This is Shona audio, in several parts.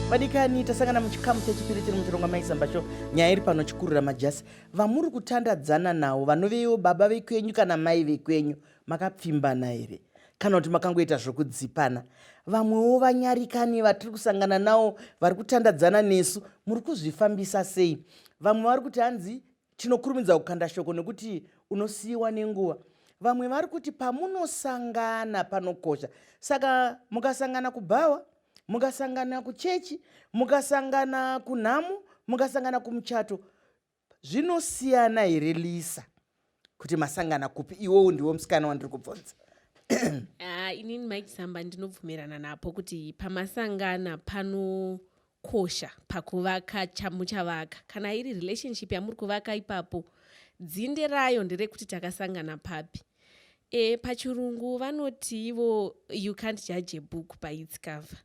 vadikani tasangana muchikamu chechipiri tiri muchirongwa maizamba cho nyaya iri pano chikurira majasi vamuri kutandadzana nawo vanovewo baba vekwenyu kana mai vekwenyu makapfimbana here kana kuti makangoita zvokudzipana vamwewo vanyarikani vatiri kusangana nawo vari kutandadzana nesu muri kuzvifambisa sei vamwe vari kuti hanzi Tinokurumidza kukanda shoko nekuti unosiyiwa nenguva. Vamwe vari kuti pamunosangana panokosha. Saka mukasangana kubhawa, mukasangana kuchechi, mukasangana kunhamo, mukasangana kumuchato, zvinosiyana here Lisa kuti masangana kupi? Iwowo ndiwo musikana wandiri kubvunza. Ah, inini Mike Samba ndinobvumirana napo kuti pamasangana pano kosha pakuvaka chamuchavaka kana iri relationship yamuri kuvaka ipapo dzinde rayo nderekuti takasangana papi e, pachirungu vanoti ivo you can't judge a book by its cover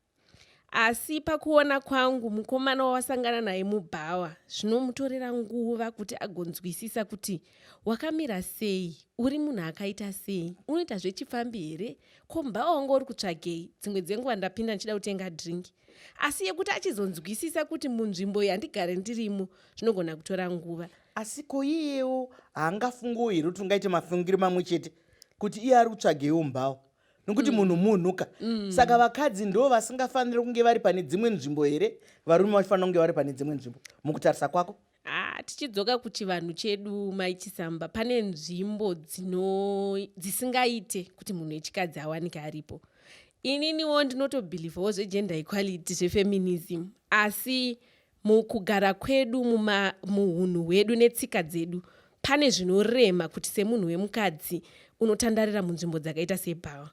asi pakuona kwangu mukomana wawasangana naye mubhawa zvinomutorera nguva kuti agonzwisisa kuti wakamira sei uri munhu akaita sei unoita zvechifambi here ko mubhawa wanga uri kutsvagei dzimwe dzenguva ndapinda ndichida kutenga dringi asi yekuti achizonzwisisa kuti munzvimbo yandigare ndirimo zvinogona kutora nguva asi ko iyewo haangafungiwo here kuti ungaite mafungiro mamwe chete kuti iye ari kutsvagewo mbawo nokuti mm. munhu munhu ka mm. saka vakadzi ndo vasingafaniri kunge vari pane dzimwe nzvimbo here varume vachifanira kunge vari pane dzimwe nzvimbo mukutarisa kwako Ah, tichidzoka kuchivanhu chedu mai chisamba pane nzvimbo dzisingaite kuti munhu wechikadzi awanike aripo ininiwo ndinotobhilivhawo zvegender equality zvefeminism asi mukugara kwedu muhunhu hwedu netsika dzedu pane zvinorema kuti semunhu wemukadzi unotandarira munzvimbo dzakaita sebhawa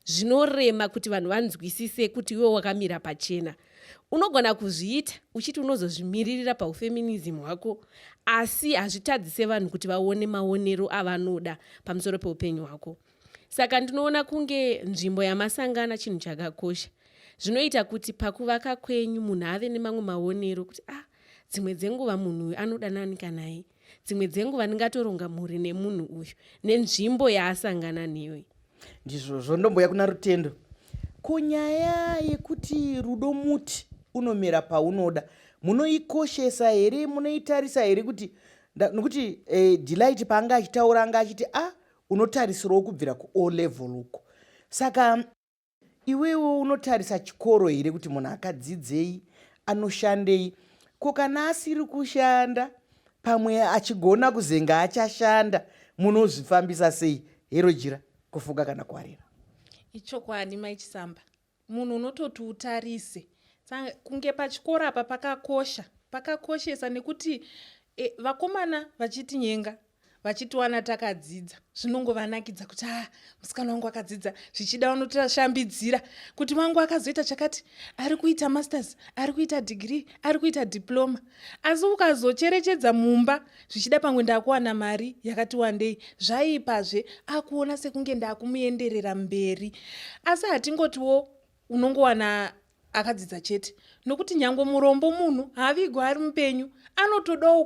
zvinorema kuti vanhu vanzwisise kuti iwe wakamira pachena unogona kuzviita uchiti unozozvimiririra paufeminism hwako asi hazvitadzise vanhu kuti vaone maonero avanoda pamusoro peupenyu hwako saka ndinoona kunge nzvimbo yamasangana chinhu chakakosha zvinoita kuti pakuvaka kwenyu munhu ave nemamwe maonero kuti ah dzimwe dzenguva munhu uyu anoda nani kanai dzimwe dzenguva ndingatoronga mhuri nemunhu uyu nenzvimbo yaasangana neyo ndizvozvo ndomboya kuna rutendo kunyaya yekuti rudo muti unomera paunoda munoikoshesa here munoitarisa here kuti nokuti eh, delight paanga achitaura anga achiti a ah, unotarisirawo kubvira kuo level uko saka Iwewo unotarisa chikoro here kuti munhu akadzidzei, anoshandei? Ko kana asiri kushanda pamwe achigona kuzenga achashanda munozvifambisa sei hero jira kufuga kana kuwarira ichokwadi mai chisamba munhu unototi utarise kunge pachikoro apa pakakosha pakakoshesa nekuti e, vakomana vachitinyenga vachitiwana takadzidza zvinongovanakidza kuti a ah, musikana wangu akadzidza zvichida vanotashambidzira kuti wangu akazoita chakati ari kuita masters ari kuita dhigiri ari kuita diploma asi ukazocherechedza mumba zvichida pamwe ndakuwana mari yakati wandei zvaiipazve akuona sekunge ndakumuenderera mberi asi hatingotiwo unongowana Akadzidza chete nokuti nyango murombo munhu haavigwa ari mupenyu anotodawo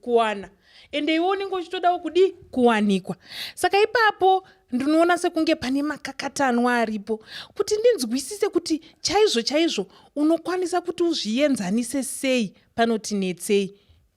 kuwana ende iwe unenge uchitodawo kudii kuwanikwa saka ipapo ndinoona sekunge pane makakatanwa aripo kuti ndinzwisise kuti chaizvo chaizvo unokwanisa kuti uzvienzanise sei panoti netsei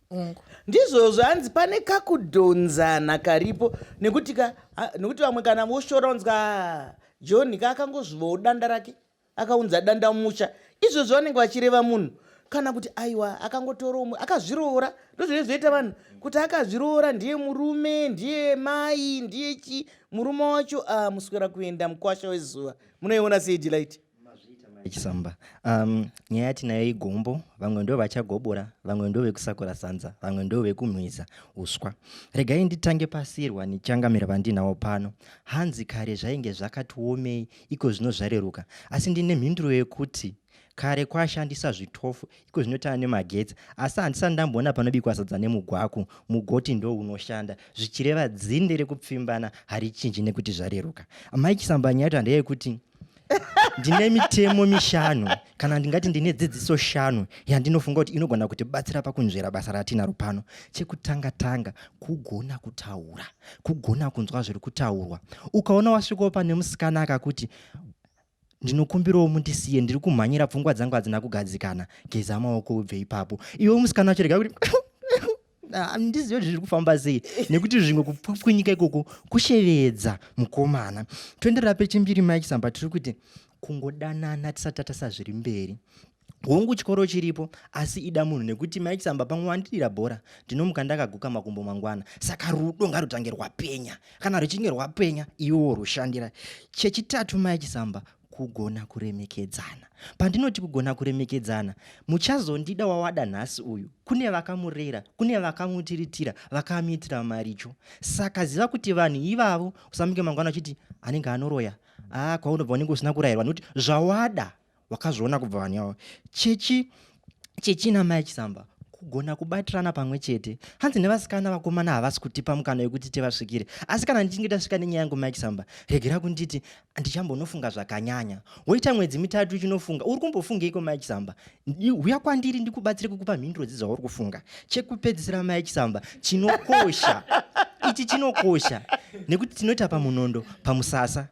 ungu ndizvo zvanzi pane kakudhonzana karipo nekuti ka nekuti vamwe kana voshoronzwa john ka akangozvivawo danda rake akaunza dandamusha izvozvo vanenge vachireva munhu kana kuti aiwa akangotora umwe akazviroora ndozvine zvoita vanhu kuti akazviroora ndiye murume ndiye mai ndiye chi murume wacho ah, muswera kuenda mukwasha wezuva munoiona sei delight chisamba um, nyaya tinayo igombo vamwe ndo vachagobora vamwe ndo vekusakura sanza vamwe ndo vekumwiza uswa regai nditange pasirwa nichangamira vandinawo pano hanzi kare zvainge zvakatiomei iko zvino zvareruka asi ndine mhinduro yekuti kare kwashandisa zvitofu iko zvinotana nemagetsi asi handisati ndamboona panobikwa sadza nemugwaku mugoti ndo unoshanda zvichireva dzinde rekupfimbana harichinji nekuti zvareruka amai chisambanya yato handeyai kuti ndine mitemo mishanu kana ndingati ndine dzidziso shanu yandinofunga kuti inogona kutibatsira pakunzvera basa ratinaro pano chekutanga tanga kugona kutaura kugona kunzwa zviri kutaurwa ukaona wasvikawo pane musikana akakuti ndinokumbirawo mundisiye ndiri kumhanyira pfungwa dzangu hadzina kugadzikana geza maoko ubve ipapo iwe musikana wacho rega kuti handizive ah, kuti zviri kufamba sei nekuti zvimwe kupwanyika ikoko kushevedza mukomana toenderera pechimbiri mike samba tiri kuti kungodanana tisati tatasa zviri mberi hongu chikoro chiripo asi ida munhu nekuti mai chisamba pamwe wandidira bhora ndinomuka ndakaguka makumbo mangwana saka rudo ngarutange rwapenya kana ruchinge rwapenya iwewo rushandira chechitatu mai chisamba kugona kuremekedzana pandinoti kugona kuremekedzana muchazondida wawada nhasi uyu kune vakamurera kune vakamutiritira vakamuitira maricho saka ziva kuti vanhu ivavo usamuke mangwana uchiti anenge anoroya a ah, kwaunobva unenge usina kurayirwa nokuti zvawada wakazviona kubva vanhu yavo chechi chechi namai chisamba kugona kubatirana pamwe chete hanzi nevasikana vakomana havasi kutipa mukana wekuti tivasvikire asi kana ndichinge tasvika nenyaya yangu mike samba regera kunditi ndichambonofunga zvakanyanya woita mwedzi mitatu uchinofunga uri kumbofungeiko mike samba huya kwandiri ndikubatsire kukupa mhinduro dzezvauri kufunga chekupedzisira mike samba chinokosha ichi chinokosha nekuti tinoita pamunondo pamusasa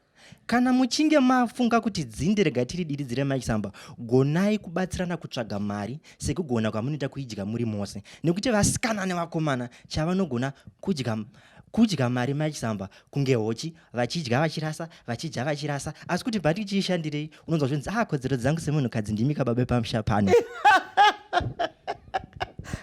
Kana muchinge mafunga kuti dzinde rega tiridiridzire Mike Samba, gonai kubatsirana kutsvaga mari sekugona kwamunoita kuidya muri mose nekuti vasikana nevakomana chavanogona kudya kudya mari Mike Samba kunge hochi vachidya vachirasa vachidya vachirasa asi kuti bati chiishandirei unonzwa zvinzi ah kodzero dzangu semunhukadzi ndimi kababe pamusha pano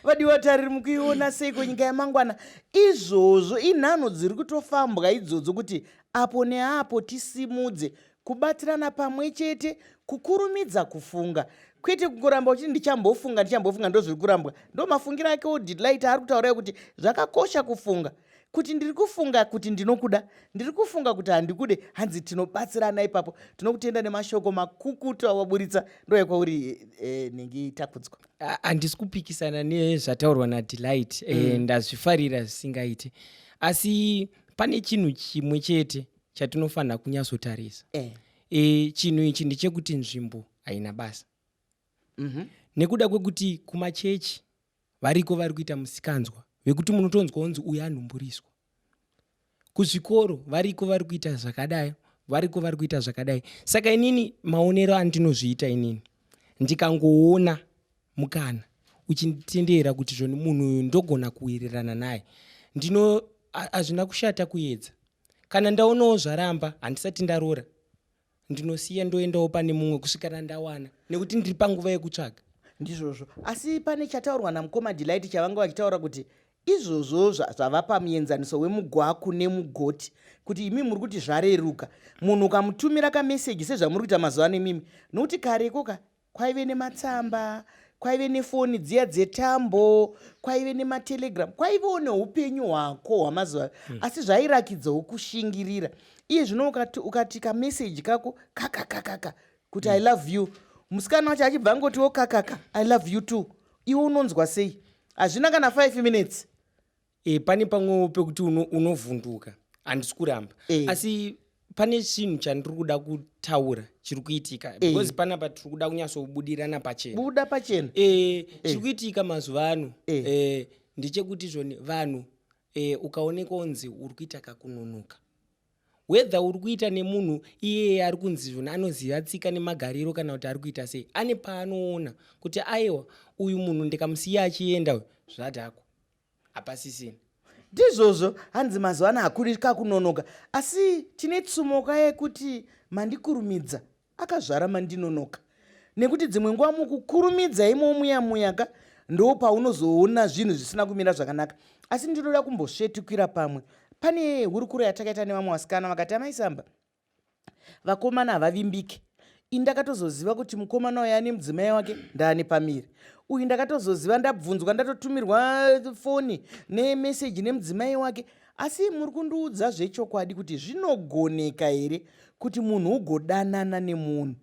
vadiwa tariri mukuiona seiko nyika yamangwana izvozvo inhanho dziri kutofambwa idzodzo kuti apo neapo tisimudze kubatirana pamwe chete kukurumidza kufunga kwete kungoramba uchiti ndichambofunga ndichambofunga ndozviri kurambwa ndo mafungiro ake odelight ari kutaura kuti zvakakosha kufunga kuti ndiri kufunga kuti ndinokuda ndiri kufunga kuti handikude hanzi tinobatsirana ipapo tinokutenda nemashoko makukutu awaburitsa ndoyekwauri eh, nenge itakudzwa handisi kupikisana nezvataurwa nadelight eh, mm. ndazvifarira zvisingaiti asi pane chinhu chimwe chete chatinofanira kunyatsotarisa eh. e, chinhu ichi ndechekuti nzvimbo haina basa mm -hmm. nekuda kwekuti kumachechi variko vari kuita musikanzwa vekuti munotonzwa unzi uyo anhumburiswa kuzvikoro variko vari kuita zvakadai variko vari kuita zvakadai saka inini maonero andinozviita inini ndikangoona mukana uchinditendera kuti zvoni munhu uyu ndogona kuwirirana naye ndino hazvina kushata kuedza kana ndaonawo zvaramba handisati ndarora ndinosiya ndoendawo pane mumwe kusvikana ndawana nekuti ndiri panguva yekutsvaga ndizvozvo asi pane chataurwa namukoma delight chavanga vachitaura kuti izvozvo zvava pamuenzaniso wemugwaku nemugoti kuti imi muri kuti zvareruka munhu ukamutumira kameseji sezvamuri kuita mazuva ano imimi nokuti kareko ka kwaive nematsamba kwaive nefoni dziya dzetambo kwaive nematelegram kwaivewo neupenyu hwako hwamazuva mm. asi zvairakidzawo kushingirira iye zvino ukati, ukati kameseji kako kakakakaka kuti mm. i hmm. love you musikana wacho achibva angotiwo kakaka i love you too iwe unonzwa sei hazvina kana five minutes e, pane pamwewo pekuti unovhunduka uno handisi kuramba e. asi pane chinhu chandiri kuda kutaura chiri kuitika eh. because e. panapa tiri kuda kunyatsobudirana pachena buda pachena e, e. chiri kuitika mazuva ano e. e, ndechekuti zvoni vanhu e, ukaonekwa unzi uri kuita kakunonoka whether uri kuita nemunhu iyeye ari kunzi zvona anoziva tsika nemagariro kana kuti ari kuita sei ane paanoona kuti aiwa uyu munhu ndikamusiya achienda uyu zvadhakwa hapasisina ndizvozvo hanzi mazuva ano hakuri kakunonoka asi tine tsumoka yekuti mandikurumidza akazvara mandinonoka nekuti dzimwe nguva mukukurumidza imowo muya muya ka ndo paunozoona zvinhu zvisina kumira zvakanaka asi ndinoda kumbosvetukira pamwe pane hurukuro yatakaita nevamwe vasikana vakati amaisamba vakomana havavimbike ini ndakatozoziva kuti mukomana uyo ane mudzimai wake ndaane pamiri uyu ndakatozoziva ndabvunzwa ndatotumirwa foni nemeseji nemudzimai wake asi muri kundiudza zvechokwadi kuti zvinogoneka here kuti munhu ugodanana nemunhu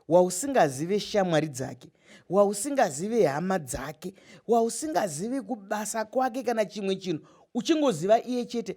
wausingazive shamwari dzake wausingazive hama dzake wausingazive kubasa kwake kana chimwe chinhu uchingoziva iye chete